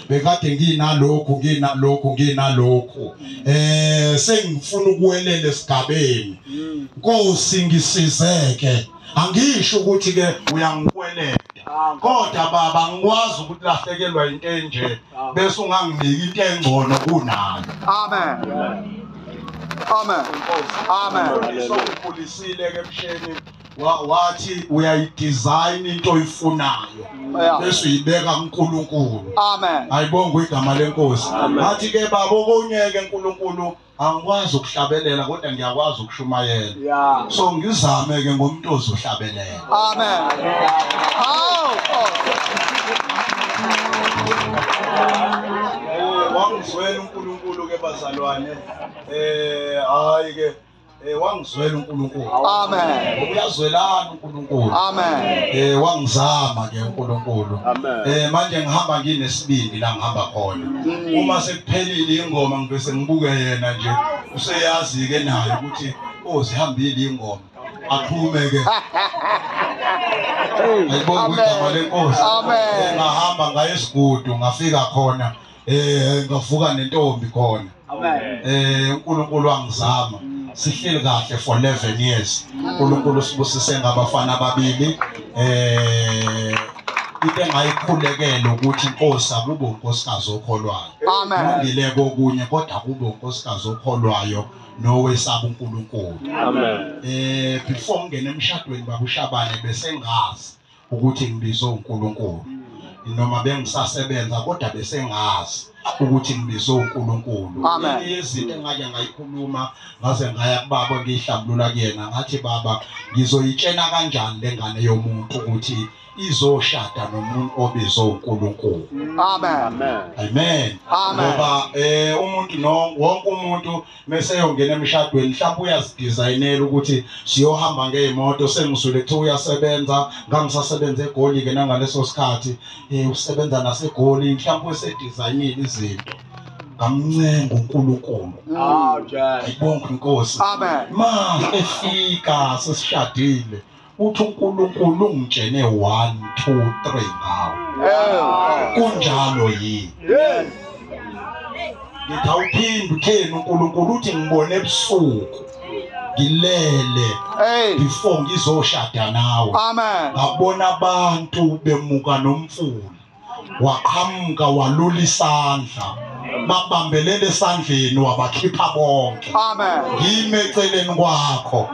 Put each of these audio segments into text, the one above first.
bekade nginalokhu nginalokhu nginalokhu eh sengifuna ukuwelela esigabeni Nkosi ngisizeke angisho ukuthi ke uyangikweleta kodwa baba ngikwazi ukulahlekelwa into enje bese unganginiki into engcono kunayo amen amen amen sokukhulisile ke msheni wathi uyayidesign into oyifunayo bese uyibeka kuNkulunkulu amen ayibonga igama lenkosi athi ke baba okunyeke uNkulunkulu angikwazi ukuhlabelela kodwa ngiyakwazi ukushumayela so ngizame ke ngomuntu ozohlabelela amen hawu wangizwela uNkulunkulu ke bazalwane eh hayi ke Eh wangizwela uNkulunkulu. Amen. Uyazwelana uNkulunkulu. Amen. Eh wangizama ke uNkulunkulu. Amen. Eh manje ngihamba nginesibindi la ngihamba khona. Mm. Uma sekuphelile ingoma ngibese ngibuke yena nje useyazi ke naye ukuthi oh sihambile ingoma. Aphume ke. Ayibonga igama lenkosi. Amen. Eh, ngahamba ngaye esigudu ngafika khona. eh ngavuka nentombi khona eh uNkulunkulu wangizama mm. sihleli kahle for 11 years uNkulunkulu sibusise ngabafana ababili eh into engayikhulekela ukuthi inkosi akube unkosikazi okholwayo kulungile kokunye kodwa akube unkosikazi okholwayo nowesaba uNkulunkulu amen eh before ngene emshadweni babushabane besengazi ukuthi ngibizwe uNkulunkulu noma bengisasebenza kodwa besengazi ukuthi ngibizwe uNkulunkulu Amen. izinto engake ngayikhuluma ngaze ngaya kubaba ngiyihlambulula kuyena ngathi baba ngizoyitshena kanjani lengane yomuntu ukuthi izoshada nomuntu obizwe uNkulunkulu Amen. Amen. Amen. Ngoba eh umuntu no wonke umuntu meseyongena emshadweni mhlawumbe uyazidizayinela ukuthi siyohamba ngey'moto sengizwile kuthiwa uyasebenza ngangisasebenza egoli-ke nangaleso sikhathi um usebenza nasegoli mhlawumbe usedizayinile izinto ngamncenga uNkulunkulu ayibonge inkosi ma efika sesishadile uthi uNkulunkulu ungitshene 1 2 3 ngawo kunjalo yini yes ngithi awuphinde utheni uNkulunkulu uthi ngibone ebusuku ngilele before ngizoshada nawe amen ngabona abantu bemuka nomfula waqhamuka walula isandla babambelele esandleni wabakhipha bonke amen ngime eceleni kwakho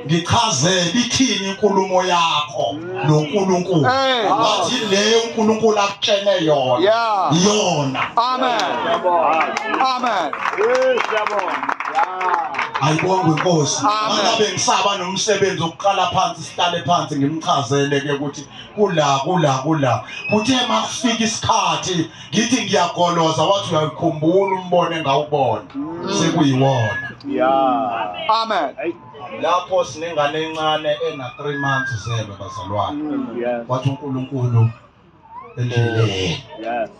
ngichazele ithini inkulumo yakho noNkulunkulu ngathi le uNkulunkulu akutshene yona yona amen amen siyabonga ayibonga inkosi ngabe ngisaba nomsebenzi okuqala phansi sihlale phansi ngimchazele ke ukuthi kula kula kula kuthe makufika isikhathi ngithi ngiyagoloza wathi uyakhumbula umbono engawubona sekuyiwona yeah amen lapho sinengane encane ena 3 months zelwe bazalwane wathi uNkulunkulu endleleni oh, yes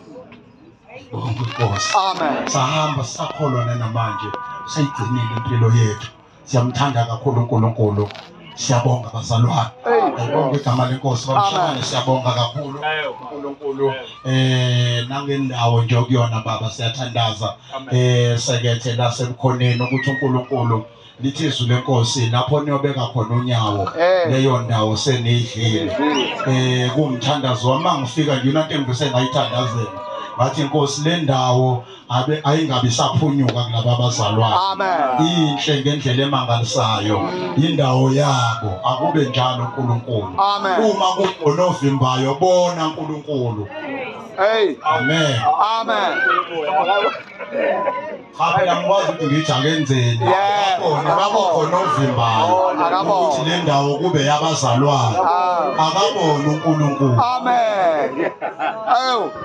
Amen. Sahamba sakholwa namanje sayigcinile impilo yethu. siyamthanda kakhulu uNkulunkulu siyabonga bazalwane ayibonga igama lenkosi bamshane siyabonga kakhulu uNkulunkulu eh nangendawo nje okuyona baba siyathandaza eh sekethe lasemkhoneni ukuthi uNkulunkulu lithi izwi lenkosi lapho niyobeka khona unyawo eh. leyo ndawo senidlile eh kumthandazo wami ngifika nje into engibese ngayithandazela ngathi inkosi le ndawo abe ayingabe isaphunyuka kulaba bazalwane inhle ngendlela emangalisayo indawo yabo akube njalo uNkulunkulu uma kunovimbayo bona uNkulunkulu hey amen amen Phela ngikwazi ukuthi ngithi akenzeni. Khona babo khona ovimbayo. Ukuthi le ndawo kube yabazalwane. Akabona uNkulunkulu. Amen. Ayo.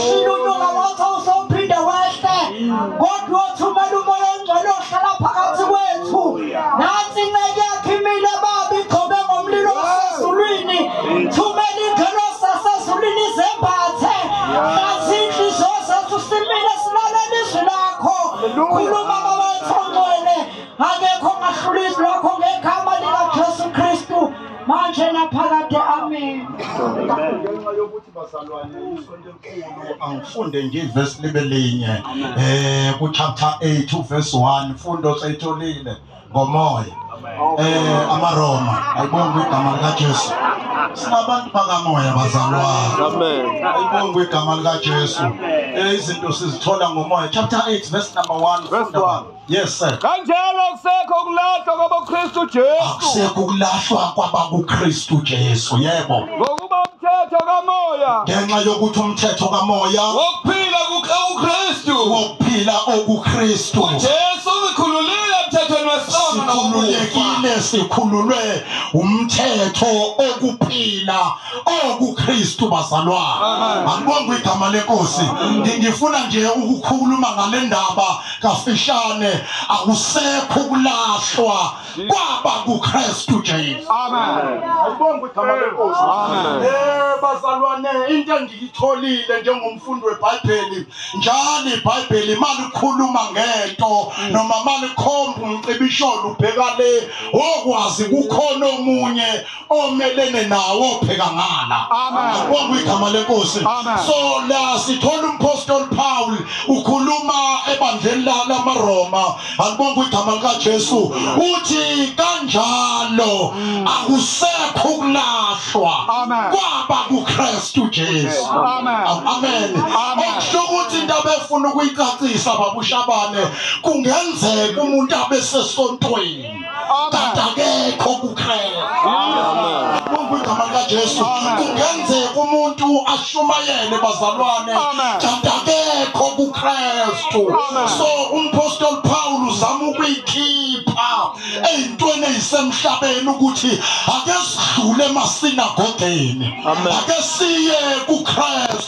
Shinunuka wathi uzophinde wehle kodwa othumela umoya ongcwele ohlala phakathi kwethu. Nansi inceke yakhe imile baba igcobe ngomlilo osezulwini. Thumela ingelosi yasezulwini izembathe. Hlazi inhliziyo zethu simile silalela izwi lakho. Khuluma baba wethu ongcwele. Akekho ongahlula izwi lakho ngegama likaJesu Kristu. manje naphakade amen ngenxa yokuthi bazalwane isonto enkulu angifunde nje ivesi libe linye um kuchapter 8 uvesi 1 fundo sayitholile ngomoya eh amaroma ayibonga igama likaJesu sinabantu bakamoya bazalwane amen ayibonga igama likaJesu eh izinto sizithola ngomoya chapter 8 verse number 1 verse 1 Yes sir. Kanjalo akusekho ukulahlwa kwaboKristu Jesu. Akusekho ukulahlwa kwabakuKristu Jesu. Yebo. Ngokuba umthetho kamoya. Ngenxa yokuthi umthetho kamoya. Wokuphila kuKristu. Wokuphila okuKristu. Jesu uzikhululile emthethweni wesono nokukhululekile sikhululwe umthetho okuphila okuKristu bazalwane. Angibonga igama lenkosi. Ngifuna nje ukukhuluma ngalendaba kafishane akusekho ukulahlwa kwaba kuKristu Jesu amen ayibonga igama lenkosi amen eh bazalwane into engiyitholile njengomfundi weBhayibheli njalo iBhayibheli imali ikhuluma ngento noma mali khomba umcibisholo ubheka le okwazi kukhona omunye omelene nawo pheka ngala akubonga igama lenkosi so la sithola umpostoli Paul ukhuluma ebandleni lala maRoma akubonga igama lika Jesu uthi kanjalo mm. akusekho ukulahlwa kwaba kuKristu Jesu amen amen okusho ukuthi indaba efuna ukuyicacisa babushabane kungenzeka umuntu abesesontweni Tata akekho kukhela. Bonke igama likaJesu. Kungenzeka umuntu ashumayele bazalwane. Tata akekho kuKristu. So umpostoli Paul uzama ukuyikhipha ezintweni ezisemhlabeni ukuthi ake sidlule emasinagogeni. Ake siye kuKristu.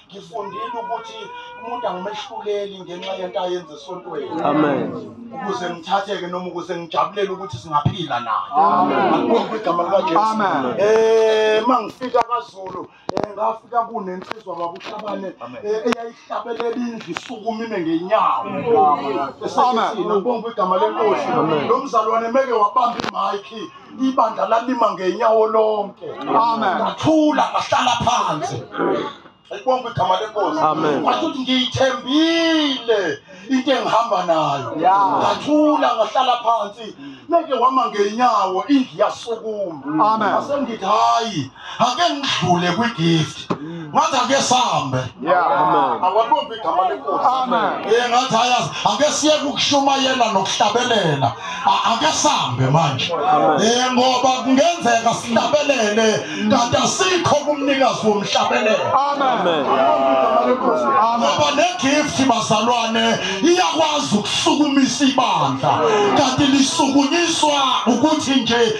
Ngifundile ukuthi umuntu angimehluleli ngenxa yento ayenza esontweni. Amen. Ukuze ngithatheke noma ukuze ngijabulele ukuthi singaphila naye. Amen. Akubonga igama lika Jesu. Amen. Eh mangifika kwaZulu eh, ngafika kunensizwa kwakushabane eh, eyayihlabelela indlu isukumile ngenyawo. Amen. Esekuthina kubonga igama lenkosi. Lo mzalwane meke wabamba i-mic ibandla lalima ngenyawo lonke Amen. ngathula ngahlala phansi ayibonga igama lenkosi Amen. ngathi ukuthi ngiyithembile into engihamba nayo Yeah. ngathula ngahlala phansi neke wama ngenyawo indlu yasukuma Amen. asengithi hayi ake ngidlule kwi gift ngathi ake sambe awalibombi igama lenkosi eh ngathi ayazi ake siye ukushumayela nokuhlabelela ake sambe manje eh ngoba kungenzeka sihlabelele kanti asikho kumnikazi womhlabelelo amen ngoba ne gift bazalwane iyakwazi ukusukumisa ibandla kanti lisukunyiswa ukuthi nje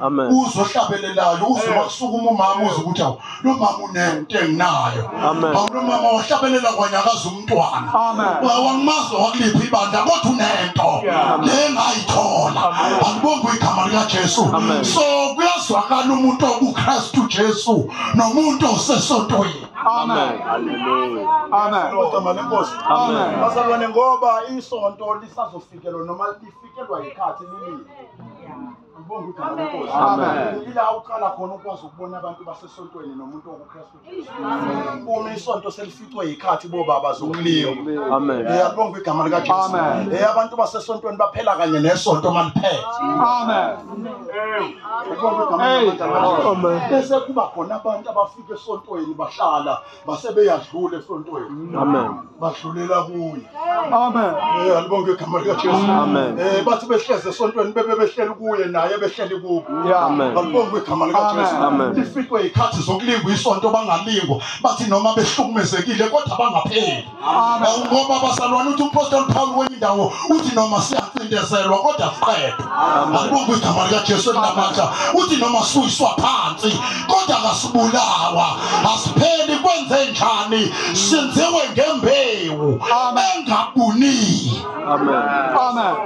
Amen. uzohlabelelayo uze wasukuma umama uze ukuthi awu lo mama unento enginayo Amen. awu lo mama wahlabelela kwanyakaza umntwana Amen. Wa- wangimazi wakuliphi ibandla kodwa unento Yeah. le ngayithola angibonge igama likajesu Amen. so kuyazwakala umuntu okukristu jesu nomuntu osesontweni Amen. Amen. Igama lenkosi Amen. bazalwane ngoba isonto lisazofikelwa noma lifikelwa yikhathi lilile Ngibonga ukuthi Amen. ngeNkosi. Amen. Ila uqala khona ukwazi ukubona abantu basesontweni nomuntu okuKristu Jesu. Uma isonto selificwe yikhathi bobaba zokuliwa. Amen. Ngiyabonga igama lika Jesu. Amen. Eh abantu basesontweni baphela kanye nesonto maliphethe. Amen. Ngibonga igama lika Jesu. Amen. Bese kuba khona abantu abafika esontweni bahlala base beyadlula esontweni amen badlulela kuye amen eh alibonge igama lika Jesu amen eh bathi behleze esontweni bebe behleli kuye naye behleli kubo amen alibonge igama lika Jesu amen lifikwe ikhathi zokulingwa isonto bangalingwa bathi noma behlukumezekile kodwa bangapheli Amen. ngoba bazalwane uthi umpostoli paul kwenye indawo uthi noma siyacindezelwa kodwa siqede asibonge igama likajesu elinamandla uthi noma siyiswa phansi kodwa kasibulawa asipheli kwenze njani sinziwe ngembewu engabunile Amen. Amen.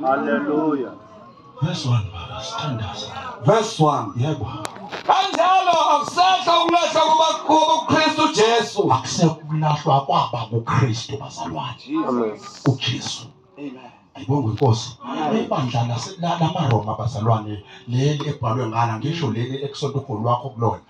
Hallelujah. Verse 1 baba sithandaza. Verse 1. Yebo. Kanjalo akusekho ukulahla kuba- kubuKristu Jesu. Akusekho ukulahlwa kwaba kuKristu bazalwane. Amen. uJesu. Ayibonge inkosi. Ibandla lase- la- lamaRoma bazalwane leli ebhalwe ngana ngisho leli ekusonto uGoli wakho kulona.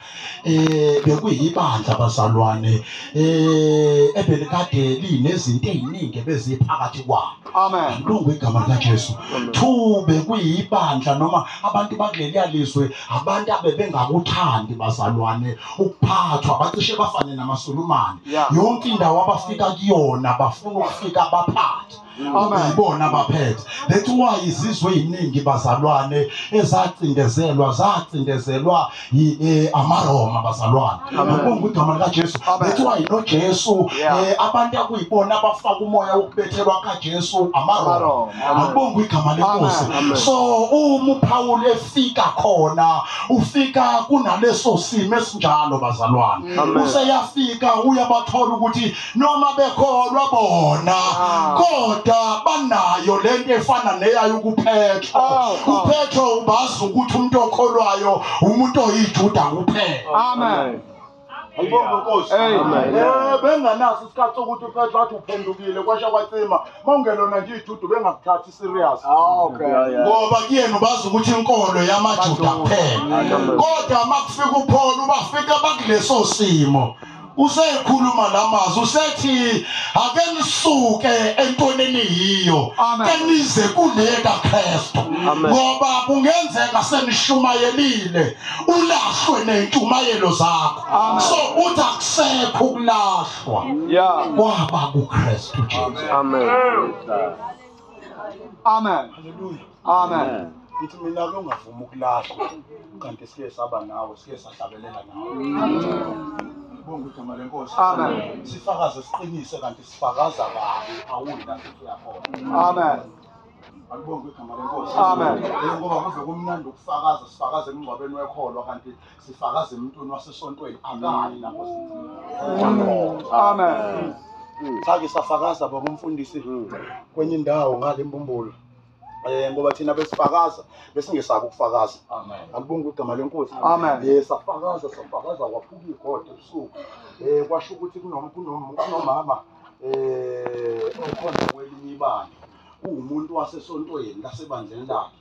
eh bekuyibandla abazalwane eh ebelikade linezinto eziningi beziphakathi kwalo amen lungu igama lika Jesu thu bekuyibandla noma abantu bakuleli alizwe abantu abebengakuthandi bazalwane ukuphathwa bacishe bafane namasulumane yonke indawo abafika kuyona bafuna ukufika baphathe yibona abaphethe that's why izizwe eziningi bazalwane ezacindezelwa zacindezelwa eh, amaroma bazalwane ngibonga igama likaJesu that's why noJesu eh, abantu akuyibona abafaka umoya wokubethelwa kaJesu amaroma ngibonga igama lenkosi so uma uPaul efika khona ufika kunaleso simo esinjalo bazalwane useyafika uyabathola ukuthi noma bekholwa bona ah. kodwa banayo lento efana neyayo ukuphethwa ah, ah. uphethwa ubazi ukuthi umuntu okholwayo umuntu oyijuda kuphela amen ayibonge nkosi eh benganaso isikhathi sokuthi uPetro athi uphendukile kwasha kwacima mawungelona nje ijudu bengakuthathi serious ah, okay ngoba kuyena ubazi ukuthi inkolo yamajuda kuphela kodwa makufika upholo ubafika bakuleso simo usekhuluma lamazi usethi ake nisuke entonini yiyo kenize kule kaKristu ngoba kungenzeka senishumayelile ulahlwe nentumayelo zakho so uthi akusekho ukulahlwa kwaba kuKristu Jesu amen Amen. Hallelujah. Amen. Amen. Ngithi mina ke ungavumi ukulahlwa kanti sike saba nawe sike sahlabelela nawe. Bonke igama lenkosi. Amen. Sifakaze siqinise kanti sifakaza kabi awuyi la futhi uyakhona. Amen. Akubonge igama lenkosi. Amen. Ngoba kuze kumnandi ukufakaza sifakaze emngcwabeni wekholwa kanti sifakaze emntwini wasesontweni akali lapho amen sake safakaza baba umfundisi kwenye indawo ngale mbumbulu um ngoba thina besifakaza besingesabi ukufakaza alibonga igama lenkosi um eh, safakaza safakaza kwaphuka igoda ebusuku um kwasho ukuthi kunomama um okhona kwelinye ibandla kuwumuntu wasesontweni lasebandleni lakhe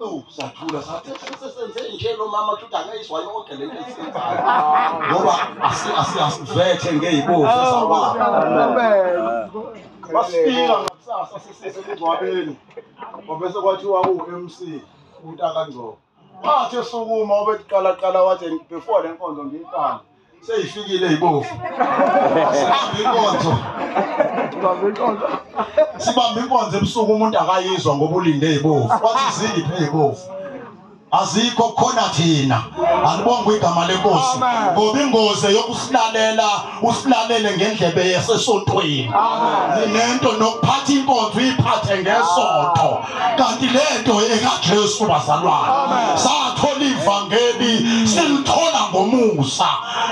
Ewu sathula sathi sesenze nje lo mama ukuthi akayizwa yonke le nto esiyenzayo ngoba asi- asi- asivethe ngey'bovu sawaba basifika ngakusasa sisesemngcwabeni kwabese kwathiwa u-mc utakangcobo wathi esukuma obeqalaqala wathi before le nkonzo ngiyiqala seyifikile ibovu sibambe inkonzo sibambe inkonzo ebusuku umuntu akayizwa ngoba ulinde ibovu wathi zingiphe ibovu azikho khona thina alibonga igama lenkosi ngoba ingozi yokusilalela usilalele ngendlebe yasesontweni ninento nokuphatha inkonzo uyiphathe ngesonto kanti lento ekaJesu bazalwane sathola ivangeli silithola ngomusa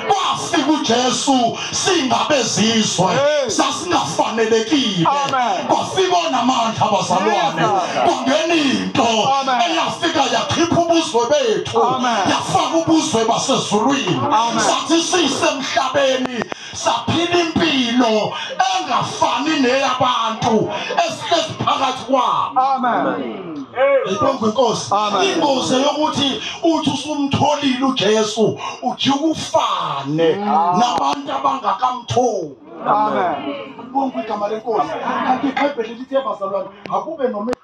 kwafika uJesu singabezizwe sasingafanelekile kwafika onamandla bazalwane kwangena into eyafika yakhipha ubuzwe bethu yafaka ubuzwe basezulwini sathi sisemhlabeni saphila impilo engafani neyabantu esihlezi phakathi kwabo amen Ngibonga inkosi. Ingozi yokuthi uthi usumtholile uJesu uthi ukufane nabantu abangakamtholi. Amen. Ngibonga igama lenkosi. Kanti iBhayibheli lithi bazalwane akube noma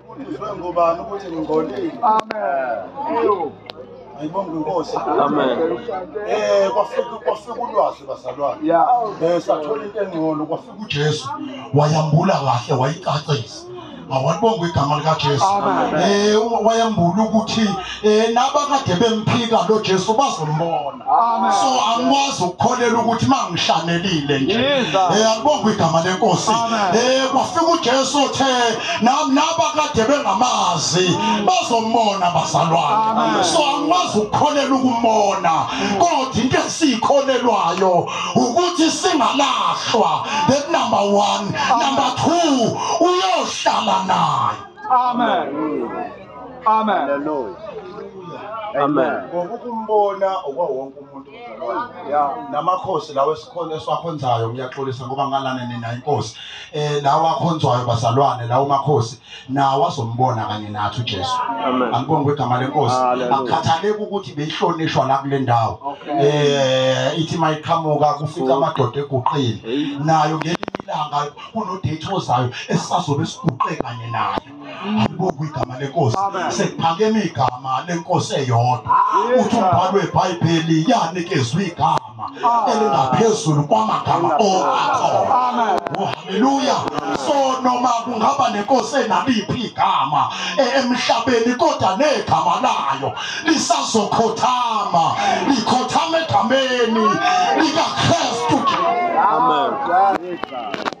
Ufundiswe ngubani ukuthi ngingcolile? Amen. Ayibonge inkosi. Amen. Eh kwafika kwafika ulwazi bazalwane. Yeah. Eh sathola into engcono kwafika uJesu wayambula kahle wayicacisa. Awalibonga igama likaJesu. Amen. Eh wayambula ukuthi eh nabakade bemphika lo Jesu bazombona so angikwazi ukukholela ukuthi mangishanelile nje eh akubonga igama lenkosi eh kwafika uJesu othe nami nabakade bengamazi mm. bazombona bazalwane so angikwazi ukukholela ukumbona kodwa into esikholelwayo ukuthi singalahlwa that number 1 number 2 uyohlala naye amen Amen. Hallelujah. Amen. Ngokukumbona okwawonke umuntu mzalwane. Namakhosi lawo esikhona esiwakhonzayo ngiyaxolisa ngoba ngalana nina inkosi. Eh lawa akhonzwayo bazalwane lawo makhosi nawo azombona kanye nathi uJesu. Amen. Angibonge kwegama lenkosi. Hallelujah. Akukhathaleki ukuthi beyihlonishwa la kule ndawo. Eh ithi mayiqhamuka kufika amadoda eguqile. Nayo ngelinye ilanga kunodate ozayo esisazobe siguqe kanye nayo. alibukwa igama lenkosi sekuphakeme igama lenkosi eyodwa uthi umbhalo webhayibheli yanikezwa igama elingaphezulu kwamagama oakhona oh, haleluya so noma kungaba nenkosi enaliphi igama e, emhlabeni kodwa negama layo lisazokhothama likhothama egameni likakristu amen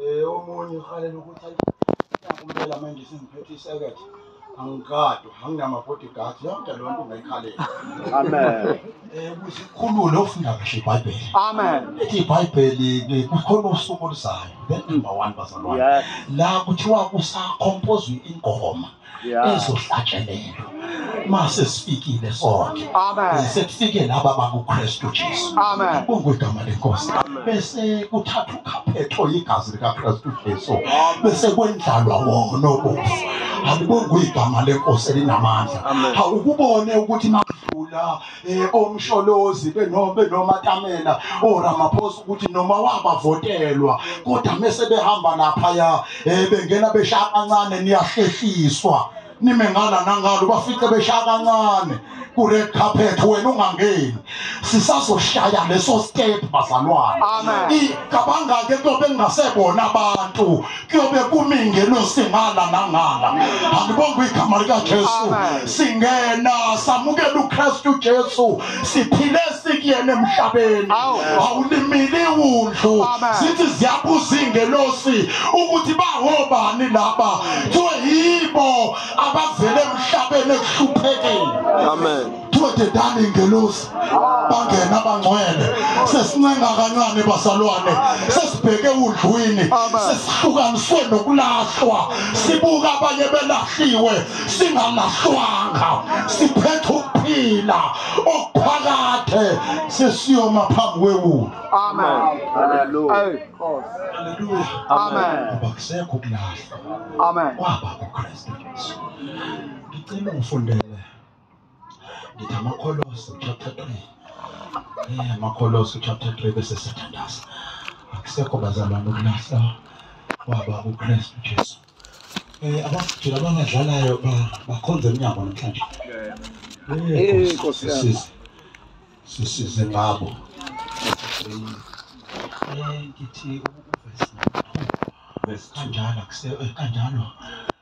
Eh omunye uhalela ukuthi ayi kumele manje sengiphethe isekethe. Angigadwa, anginama bodyguard, yonke lo nto ungayikhalela. Amen. Eh kusikhulule ofunda kahle iBhayibheli. Amen. Lithi iBhayibheli eh, kukhona usuku oluzayo. Then number 1 bazalwane. Yes. La kuthiwa kusakompozwa ingoma. izohlatshelelwa mase sifikile sonke sekufike laba bakuKristu Jesu kungwegama lenkosi bese kuthatha ukhaphetho igazi likaKristu Jesu bese kwendlalwa wona obufu alibongwe igama lenkosi elinamandla awukubone ukuthi makudlula eh, omsholozi benomatamela oramaphosa ukuthi noma wabavotelwa kodwa mese behamba laphaya um eh, bengena beshaya kancane niyahlehliswa nime ngala nangalo ubafice beshaya kancane ku-red carpet wena ungangeni sisazoshaya leso step bazalwane cabangake kuyobe kungasebona abantu kuyobe kumi ingelosi ngala nangala alibonga igama likajesu singena samukela ukristu jesu siphile sikuyena emhlabeni awulimili wundlu sithi ziyabuza ingelosi ukuthi bangobani laba kuthiwe yibo abavele emhlabeni ekuhluphekeni amen dodedani ingelosi bangena abangcwele sesincenga kancane basalwane sesibheke udlwini sesihlukaniswe nokulahlwa sibuka abanye belahliwe singalahlwanga siphethe ukuphila okuphakade sesiyoma phambi kwewulu amen haleluya haleluya amen akusekho ukulahlwa amen kwaba kukristu jesu ngicela ungifundele Ngithi amaKholosi chapter 3. Eh amaKholosi chapter 3 bese sithandaza. Akusekho bazalwane ukulahla kwaba uKristu Jesu. Eh abafutshela abangadlalayo bakhonze emnyango namhlanje. Eh Nkosi yami. Sisize ngabo. Eh ngithi verse 2 kanjalo kanjalo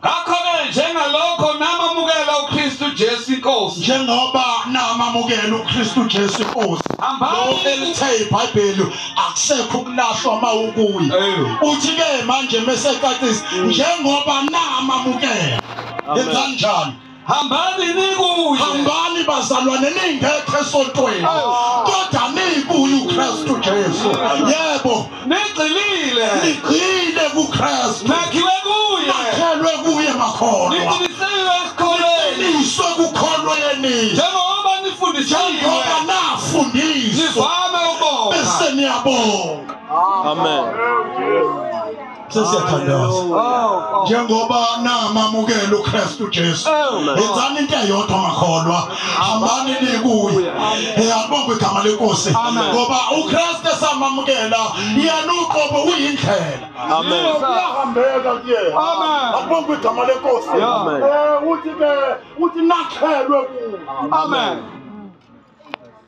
Ngakho-ke njengalokho namamukela uKristu Jesu iNkosi. Njengoba namamukela uKristu Jesu iNkosi. Lo elithe iBhayibheli akusekho ukulahlwa uma ukuye. Uthi-ke manje mesecacisa njengoba namamukela. Yenzani njalo. hambani nikuye hambani bazalwane ningekho esontweni kodwa nikuye ukristu jesu yebo nigxilile nigxile kukristu nakhiwe kuye nakhelwe kuye makholwa niqinisile esikholweni niswe kukholweni njengoba nifundisiwe njengoba nafundiswa nivame ukubonga bese niyabonga amen sesiyathandaza njengoba namamukela uKristu Jesu yenzani into eyodwa makholwa hambani nikuye yabonga igama lenkosi ngoba uKristu esamamukela yena uqobo uyindlela amen uyahambeka kuyena amen abonga igama lenkosi eh uthi ke uthi nakhelwe kuwe amen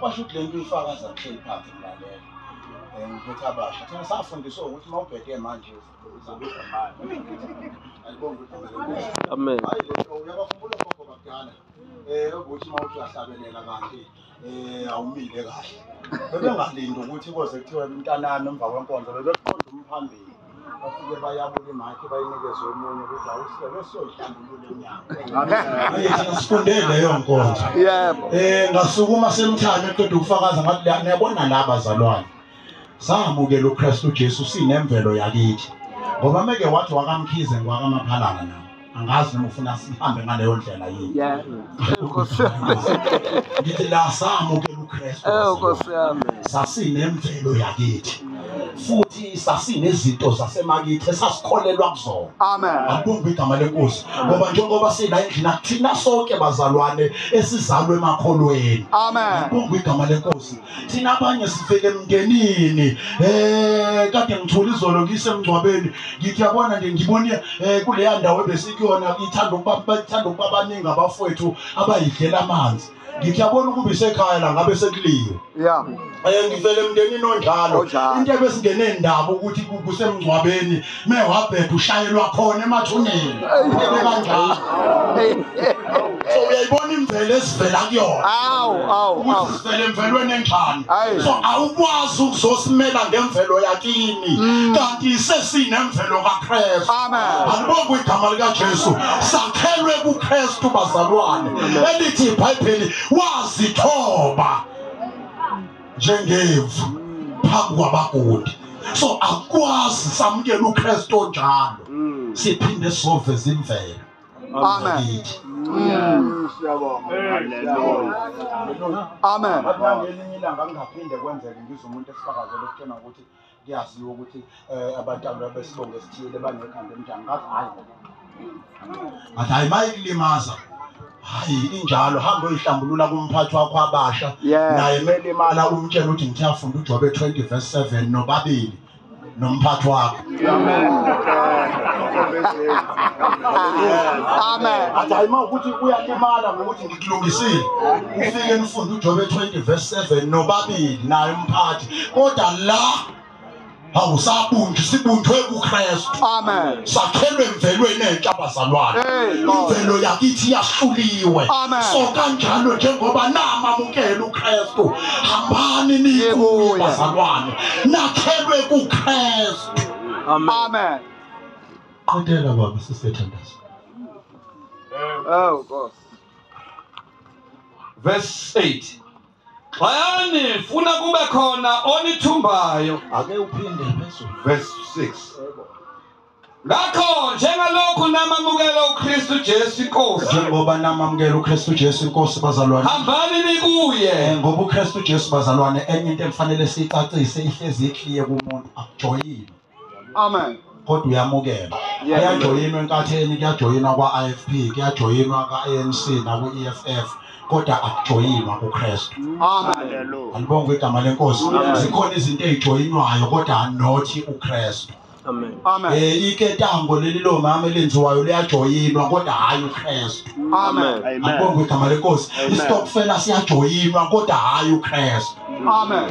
Washo ukuthi le nto uyifakaza kuhleli phansi mlalela. Eh, ngiphethe abasha. Thina safundiswa ukuthi uma ubheke manje uzobiza imali. Alibonga ukuthi Amen. Hayi lento uyabakhumbula ogogo bakudala. Eh ukuthi uma uthi uyahlabelela kanti eh awumile kahle. Bebengalindi ukuthi koze kuthiwe mntanami emva kwenkonzo bebekuqonda umphambili. bafike bayabula imakhe bayinikeze omunye ukuthi awusebe siyoyihlambulula inyanga sifundele leyo nkonzo yebo um ngasukuma semthane eqeda ukufakaza ngathi niyabona la bazalwane samukela ukristu ujesu sinemvelo yakithi ngoba meke wathi wakamkhize ngwakamaphalana nami angazi noma ufuna sihambe ngaleyo ndlela yini Yeah. Nkosi yami. ngithi la samukela ukristu Eh, Nkosi yami. sasinemvelo yakithi futhi sasinezinto zasemakithi esasikholelwa kuzona Amen. akubumbi igama lenkosi ngoba njengoba sila endlini akuthina sonke bazalwane esizalwe emakholweni Amen. akubumbi igama lenkosi thina abanye sivele emndenini eh kade ngithula izolo ngisemngcwabeni ngithi yabona nje ngibone eh kuleya ndawo ebesikuyona ithanda ukuba bathanda ukuba baningi abafowethu abayidlela amanzi ngithi yabona ukuba isekhaya la ngabe sekuliwe ya um ngivele emndenini onjalo into ebesingenendaba ukuthi kusemngcwabeni me wabhebha ushayelwa khona emathuneni phele kanjalo so uyayibona imvelo esivela kuyona awu awu ukuthi sivele emvelweni enjani so awukwazi ukuzosimela ngemvelo yakini mm. kanti sesinemvelo kaKristu alibonga igama likaJesu sakhelwe kuKristu bazalwane elithi iBhayibheli wazithoba njengemvu phambi kwabagundi so akwazi samukela uKristu onjalo mm. siphinde sove zimvelo amen mm. amen amen kuyaziwa ukuthi eh, abantu ababesibongo esithile banekhanda enjani ngathi hayi ngathi hayi mayikulimaza hayi injalo hamba oyihlambulula kumphathi wakho abasha naye kumele imali akumtshela ukuthi ngithi afunda ujobe 20 verse 7 nobabili nomphathi wakho amen athi hayi ma ukuthi uyalimala ngokuthi kulungisile ufike nifunde uJobe 20 verse 7 nobabili naye umphathi kodwa la hawu sabunjwa sibunjwe kuKristu amen sakhelwe emvelweni entsha abazalwane imvelo yakithi yahluliwe so kanjalo njengoba namamukela uKristu hambani nikuye abazalwane nakhelwe kuKristu amen qedela baba sisethandaza Oh, God. verse 8 xayani funa kube khona onithumbayo ake uphinde phezulu verse 6 ngakho njengalokhu namamukela uKristu Jesu inkosi njengoba namamukela uKristu Jesu inkosi bazalwane hambani nikuye eh, ngoba uKristu Jesu bazalwane enye into emfanele siyicacise ihlezi ikliye kumuntu akujoyile amen kodwa uyamukela kuyajoyinwa enkatheni kuyajoyinwa kwa-ifp kuyajoyinwa ka-anc nakwi-eff kodwa akujoyinwa kukristu andibonga igama lenkosi zikhona izinto ezijoyinwayo kodwa anothi ukristu Amen. Amen. Eh iketango leli lo mama elenziwayo liyajoyinwa kodwa hayi uKristu. Amen. Ngibonga igama lenkosi. Isitokfela siyajoyinwa kodwa hayi uKristu. Amen.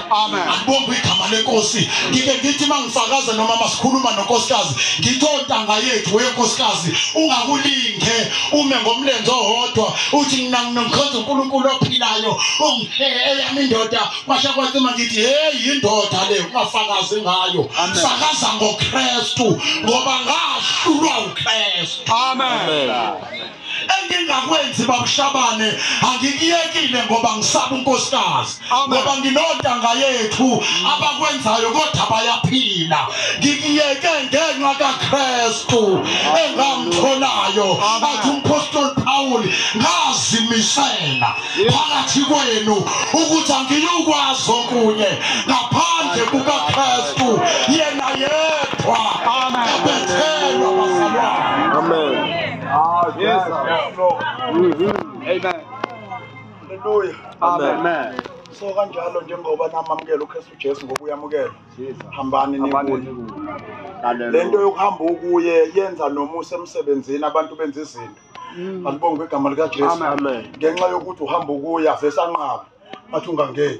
Amen. Akubonga igama lenkosi. Ngike ngithi mangifakaza noma masikhuluma nonkosikazi, ngithi ontanga yethu wenkosikazi ungakulinge ume ngomlenze owodwa uthi mina nginomkhonza uNkulunkulu ophilayo eyami indoda kwasha kwathima ngithi hey indoda le ungafakazi ngayo. Fakaza ngoKristu ngoba ngahlulwa uKristu. Amen. Amen. engingakwenzi babushabane angikuyekile ngoba ngisaba unkosikazi ngoba nginontanga yethu abakwenzayo kodwa bayaphila ngikuyeke ngenxa kakristu engamtholayo athi umpostoli pawuli ngazimisela phakathi kwenu ukuthi angiyukwazi okunye ngaphandle kukakristu yena yedwa abethelwa bazalwane amen Ah, yes, yes, Lord. Mm-hmm. Amen. Hallelujah. Amen. Amen. so kanjalo njengoba namamukela uKristu Jesu ngokuyamukela hambani nikuye lento yokuhamba ukuye yenza nomusa emsebenzini abantu benza izinto mm. alibonge igama lika Jesu ngenxa yokuthi uhamba ukuya vese anqaba athi ungangeni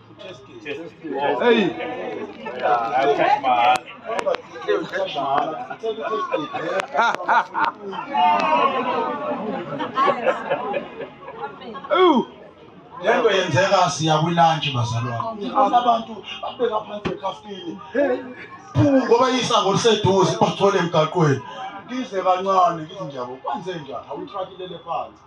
Ooh. lento yenzeka siya kwilantshi bazalwane abantu abeka phansi ekhafini ngoba isango liseduze bathole emgaqweni ngize kancane ngithi njabo kwenze njani awuthakilele phansi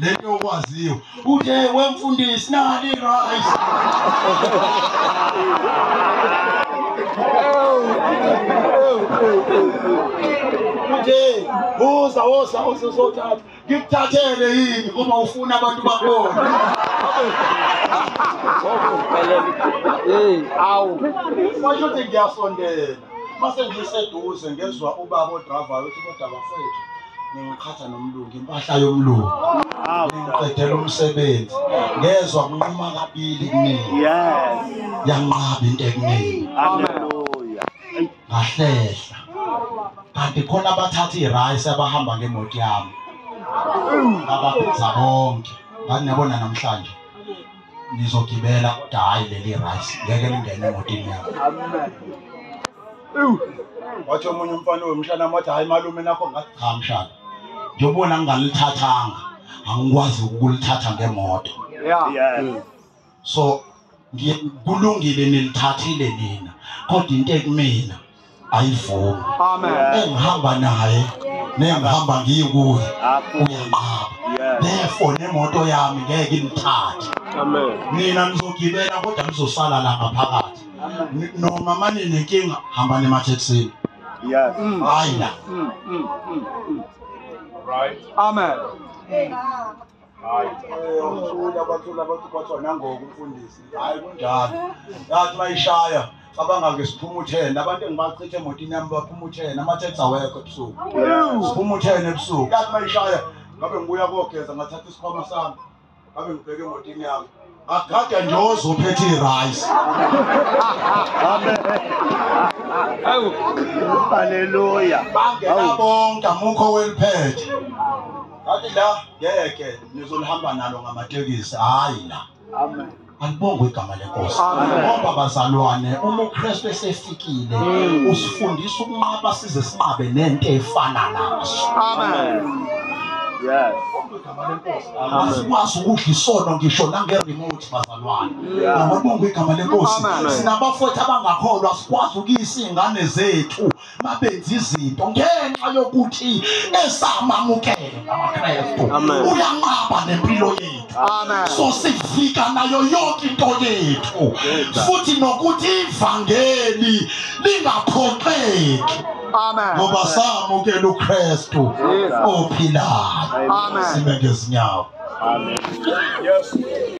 lento okwaziyo uthe wemfundisi nali rice uthe uza woza uzothatha ngikuthathele yini uma ufuna abantu bakubona awu washo ukuthi ngiyasondela mase ngiseduze ngezwa ubaba odravayo uthi kodwa bafethu ningiqhatha nomlungu impahla yomlungu ningiqedela umsebenzi ngezwa kunquma kabili kumina yanqaba into ekunini ngahlehla kanti khona abathatha irayisi abahamba ngemoto yami ngababiza bonke ngani niyabona namhlanje nizogibela kodwa hhayi leli rice ngeke lingene emotini yami wathi omunye umfana wemshana wathi hhayi malume nakho ngathi cha mshana njengobona ngingalithathanga angikwazi ukulithatha ngemoto so kulungile nilithathile nina kodwa into ekumina ayivumi engihamba naye nengihamba ngiye kuye uyanqaba therefore nemoto yami ngeke imthathe nina nizogibela kodwa nizosala la ngaphakathi noma mane nenkinga hamba nemathekisini hayi la mm, mm, mm, Right. Amen. hayi uthula bathula abantu bathi wanangoku umfundisi hayi kunjalo yathi bayishaya cabanga ke siphuma uthene abantu engibachithe emotini yami baphuma uthene amathethi awekho ebusuku siphuma uthene ebusuku yathi bayishaya ngabe ngibuya kogeza ngathatha isikhwama sami ngabe ngibheke emotini yami Akade nje ozophethe irice. Awu. Haleluya. Bangena bonke amukho weliphethe. Athi la ngeke nizolihamba nalo ngamatekisi hayi la. Amen. alibongwe igama lenkosi ngoba bazalwane uma ukristu esefikile mm. usifundisa ukunqaba size sinqabe nento efana naso amen yes asikwazi ukudla isono ngisho nange-remote bazalwane ngokubonga igama lenkosi sinabafowethu abangakholwa sikwazi ukuyisa iy'ngane zethu babenza izinto ngenxa yokuthi esamamukele amakrestu uyanqaba nempilo yethu so sivika nayo yonke into yethu futhi nokuthi ivangeli lingaphoxeki Amen. Ngoba samukela uKristu ophilayo. Amen. Sibe ngezinyawo. Amen. Yes.